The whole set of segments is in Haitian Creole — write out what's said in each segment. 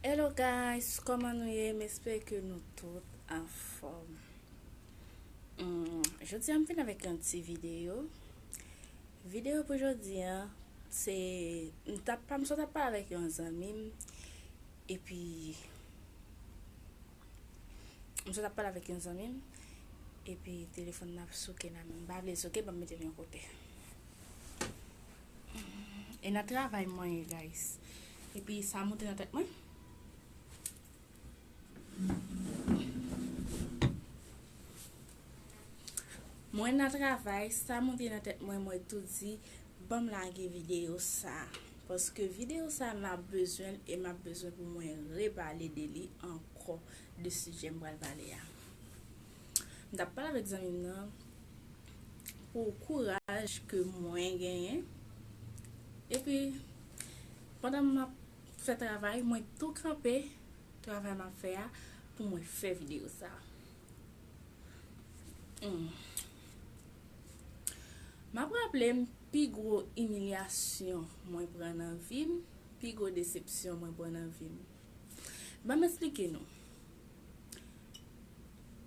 Hello guys, kòman nou ye? M espere ke nou tout an fòm. Hmm, jodi an m vin avèk yon ti videyo. Videyo pou jodi an, se m tap pa m sot ap pale avèk yon zanmi m epi m sot ap pale avèk yon zanmi m epi telefòn nan ap souke la, m pa vle l souke, ban m mete l yon kote. E nan travay mwen ye guys. Epi sa moute nan tèt mwen. Mwen nan travay, sa moute nan tèt mwen mwen tou di banm lage video sa. Paske video sa nan bezwen e map bezwen pou mwen repale de li ankò de sijè m pral pale a. M tap pale avèk zanmim nan pou kouraj ke mwen genyen epi pandan map fè travay mwen tou kanpe travay map fè a pou mwen fè video sa. Map raplem pi gwo imilyasyon mwen pran nan vim, pi gwo desepsyon mwen pran nan vim. Banm esplike nou.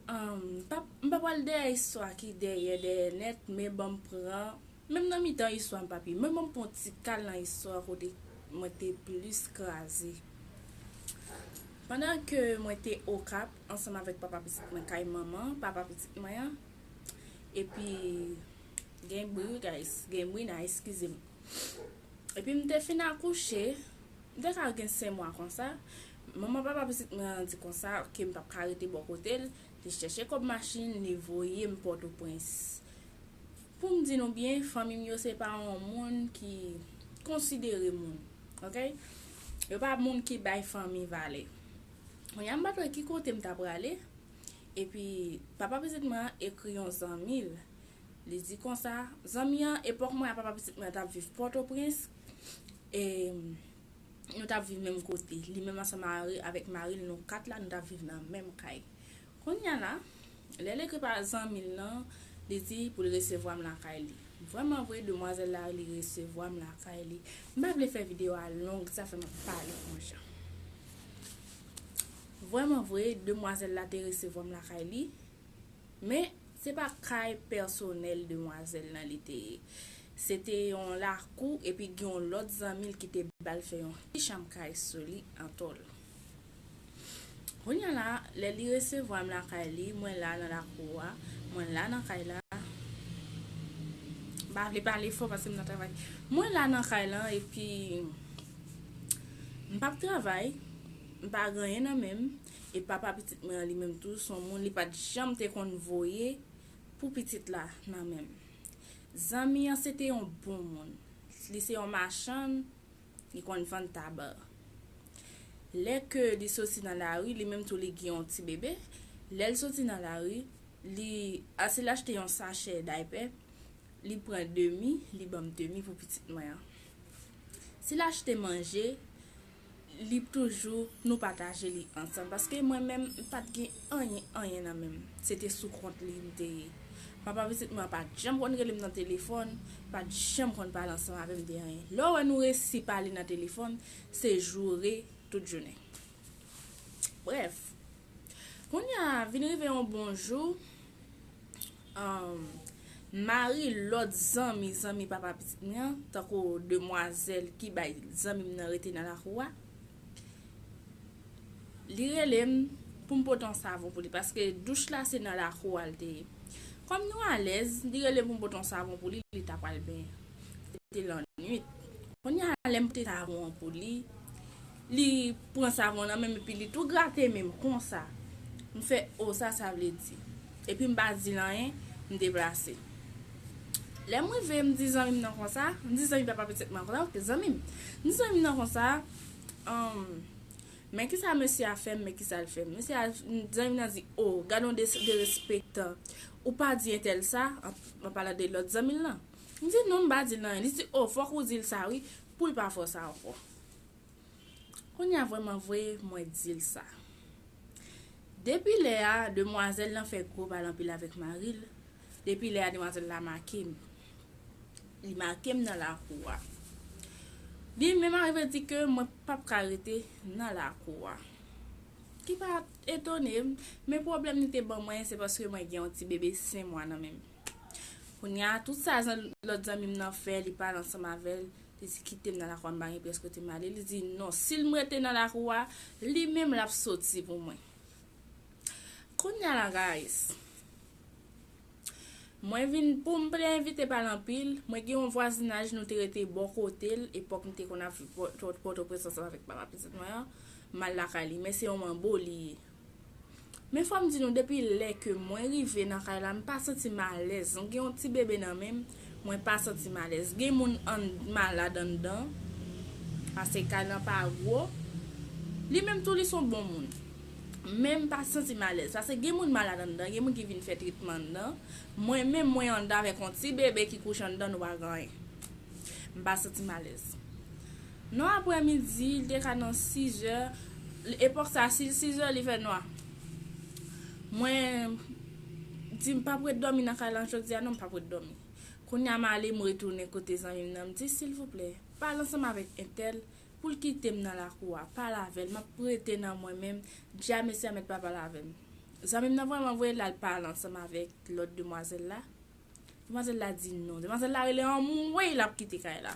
M pa pral dèyè istwa ki dèyè dèyè nèt men banm pran menm nan mitan istwa m pa pi men banm pran yon ti kal nan istwa kote mwen te plis kraze. Pandan ke mwen te Okap ansanm avèk papa pitit mwen kay manman papa pitit mwen an epi gen bri wi guys gen bri nan eskize m. Epi m te fin akouche M te ka gen sen mwa konsa, manman papa pitit mwen an di konsa ke m pap ka rete bò kote l, li chèche kòb machin, li voye m Pòtoprens. Pou m di nou byen, fanmi m yo se pa yon moun ki konsidere moun, ok. Yo pa moun ki bay fanmi valè. Kounye a m pa t wè ki kote m ta prale, epi papa pitit mwen an ekri yon zanmi l, li di konsa, zanmi an, epòk mwen ak papa pitit mwen an t ap viv Pòtoprens, nou tap viv menm kote. Li menm ansanm avèk mari l nou 4 la nou tap viv nan menm kay. Kounya la, lè l ekri pa zanmi l lan, li di pou l resevwa m lakay li. Vrèman vre, demwazèl la li resevwa m lakay li. M pa vle fè videyo a long, se sa fè m ap pale konjan. Vrèman vre, demwazèl la te resevwa m lakay li. Men, se pa kay pèsonèl demwazèl lan li te ye. Se te yon lakou epi gen yon lòt zanmi l ki te ba l fè yon ti chanm kay sou li atò l. Kounye a la, lè li resevwa m lakay li, mwen la nan lakou a, mwen la nan kay la, m pa vle pale fò paske m nan travay, mwen la nan kay lan epi m p ap travay, m pa gen anyen nan men m, e papa pitit mwen an li menm tou son moun li pat janm te konn voye pou pitit la nan menm zanmi an se te yon bon moun li se yon machann li konn vann taba lè ke li soti nan lari li menm tou li gen yon ti bebe lèl soti nan lari li ase l achte yon sachè daypè li pran demi li banm demi pou pitit mwen an si l achte manje li toujou nou pataje li ansanm paske mwen menm m pat gen anyen anyen nan menm se te sou kont li m te ye papa pitit mwen an pat janm konn rele m nan telefòn pat janm konn pale ansanm avè m de anyen lè w wè nou resi pale nan telefòn se joure tout jounen brèf kounya vin rive yon bon jou. Humm mari lòt zanmi zanmi papa pitit mwen an tankou demwazèl ki bay zanmi m nan rete nan lakou a li rele m pou m pote yon savon pou li paske douch la se nan lakou a li te ye kòm nou alèz li rele m pou m pote yon savon pou li li ta pral benyen se te lannwit kounya lè m pote savon an pou li Li pran savon nan menm epi li tou grate menm konsa. M fè oh sa sa vle di. Epi m pa di l anyen, m deplase. Lè m rive m di zanmi m nan konsa, m di zanmi papa pitit mwen konsa ok zanmi m. M di zanmi m nan konsa umm men kisa mesye a fè m men kisa l fè m. Mesye a, zanmi m nan di oh gad yon derespektan ou pa di entèl sa, an palan de lòt zanmi l lan. M di non m pa di l anyen. Li di oh fòk ou di l sa wi pou l pa fè w sa ankò. Kounye a vrèman vre mwen di l sa. Depi lè a demwazèl lan fè gwo pale anpil avèk mari l, depi lè a demwazèl la make m. Li make m nan lakou a. Li menm arive di ke mwen pa p ka rete nan lakou a. Ki pa etone m, men pwoblèm li te ban mwen se paske mwen gen yon ti bebe sen mwa nan menm. Kounye a tout sa lòt zanmi m nan fè li pale ansanm avè l, Li di, Kite m nan lakou a, m pa gen pyès kote m ale. Li di, Non, si l m rete nan lakou a, li menm l ap soti pou mwen. Kounye a la, guys, mwen vin, pou m plen envite pa l anpil, mwen gen yon vwazinaj nou te rete bò kote l, epòk m te konn ap viv Pòtoprens ansanm avèk papa pitit mwen an, m al lakay li. Men se yon manbo li ye. Men fòm di nou depi lè ke mwen rive nan kay la m pa santim alèz m gen yon ti bebe nan menm mwen pa santim alèz gen moun an malad anndan pase kay lan pa gwo li menm tou li son bon moun men m pa santim alèz pase gen moun malad anndan gen moun ki vin fè tretman anndan mwen menm mwen anndan avèk yon ti bebe ki kouche anndan nou pa gen anyen m pa santim alèz. Non aprè midi, li te ka nan sizè, epòk sa si l sizè li fè nwa. Mwen di m pap ret dòmi nan kay lan jodi a non m pap ret dòmi. Kounye a m ale m retounen kote zanmi m nan m di silvouplè pale ansanm avèk entèl pou l kite m nan lakou a, pale avè l m ap rete nan mwen menm, di a mesye a mèt pa pale avè m. Zanmi m nan vrèman voye l al pale ansanm avèk lòt demwazèl la, demwazèl la di non, demwazèl la rele anmweyy l ap kite kay la.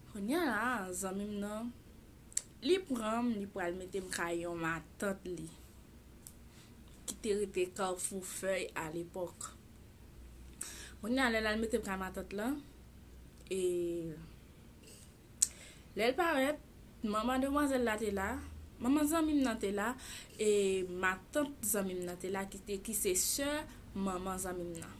Konnya la zanmim nan Li pranm li pral metem kay yon matant li ki te rete carrefour fèy a lepòk konnya lèl al metem kay matant lan e lèl parèt Manman demwazèl la te la, manman zanmi m nan te la, e matant zanmi m nan te la ki se sè manman zanmi m nan.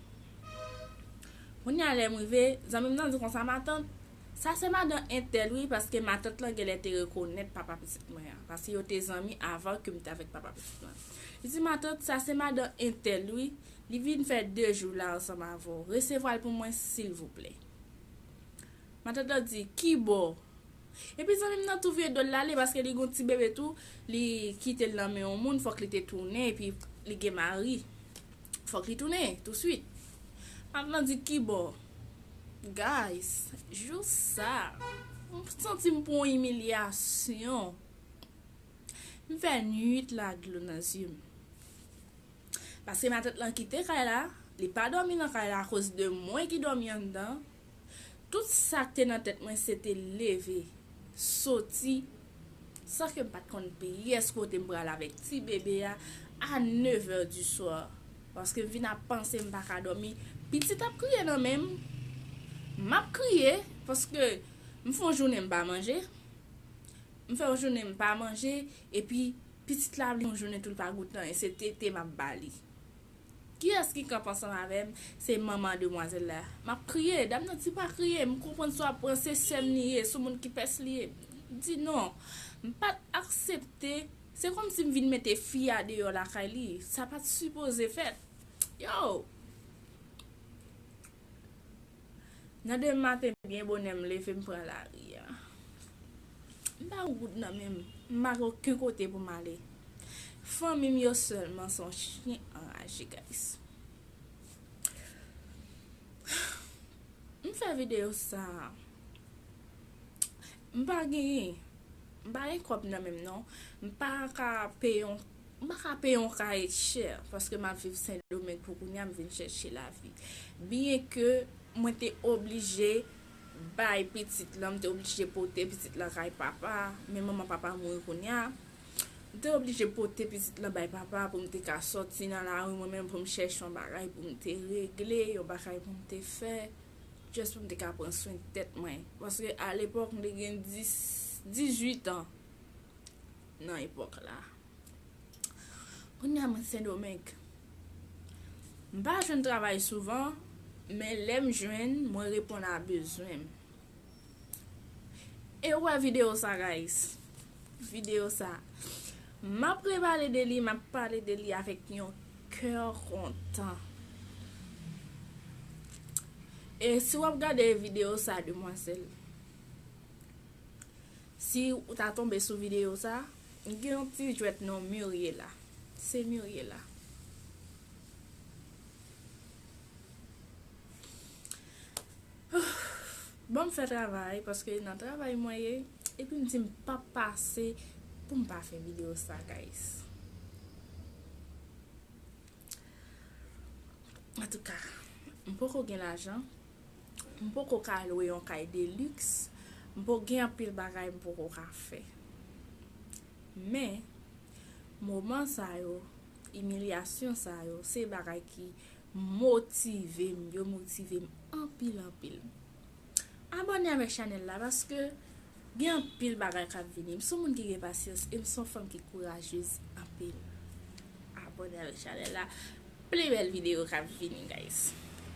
Kounye a lè m rive, zanmi m nan di konsa, Matant, sa se madan entèl wi paske matant lan genlè te rekonèt papa pitit mwen an, paske yo te zanmi avan ke m te avèk papa pitit mwen. Li di, Matant, sa se madan entèl wi, li vin fè de jou la ansanm avè w, resevwa l pou mwen silvouplè. Matant lan di, Kibò? Epi zanmim nan tou vye dol la ale paske li gon ti bebe tou li kitel nan men yon moun fok li te tounen epi li gen mari fok li tounen tou swit map nan di kibò guys jou sa m santim pran yon imilyasyon m fè nwit la dlo nan zyem paske matant lan kite kay la li pa domi nan kay la akoz de mwen ki domi anndan Tout sa k te nan tèt mwen se te leve, soti, san ke m pa t konn pyès kote m pral avèk ti bebe a, a nevè di swa. Paske m vin ap panse m pa ka dòmi, pitit ap kriye nan men m, m ap kriye, paske m fè yon jounen m pa manje, m fè yon jounen m pa manje, epi pitit la vle yon jounen tou l pa gou tan, e se tete m ap ba li. Kiyès ki kap ansanm avèm se manman demwazèl la map kriye dam nan di pa kriye m konprann sa wap pran se sèm li ye sou moun ki pès li ye m di non m pat aksepte se kòmsi m vin mete fi a deyò lakay li sa pat sipoze fèt yow. Nan demen maten byen bonè m leve m pran lari a. M pa gen goud nan men m, m pa gen oken kote pou m ale. Fanmi m yo sèlman se yon chyen anraje guys. M fè videyo sa a. M pa genyen, m pa gen kòb nan men m non. M pa ka peye yon. M pa ka peye yon kaye chè paske m ap viv Sendomeng pou kounya m vin chèche lavi. Byenke mwen te oblije bay pitit lan, m te oblije pote pitit lan kay papa, men manman papa a mouri kounya, m te oblije pote pitit lan bay papa a pou m te ka soti nan lari mwen menm pou m chèche yon bagay pou m te regle, yon bagay pou m te fè, just pou m te ka pran swen tèt mwen. Paske alepòk m te gen 18 an. nan epòk la. Kounye a mwen Sendomeng. M pa jwenn travay souvan, men lè m jwenn, mwen reponn a bezwen m. E ou wè videyo sa guys? Videyo sa. M ap repale de li, m ap pale de li avèk yon kè kontan. E si w ap gade videyo sa demwazèl. Si ou ta tonbe sou video sa, gen yon ti jwèt non Muriela. Se Muriela. Banm fè travay paske nan travay mwen ye epi m di m pap pase pou m pa fè video sa guys. Antouka, m poko gen lajan. M poko ka lwe yon kay de liks, m po gen anpil bagay m poko ka fè. Men, moman sa yo, imilyasyon sa yo, se bagay ki motive m, yo motive m anpil anpil. Abòne avèk chanèl la paske gen anpil bagay kap vini. M son moun ki gen pasyans e m son fanm ki kourajez anpil. Abòne avèk chanèl la, plis bèl videyo kap vini guys.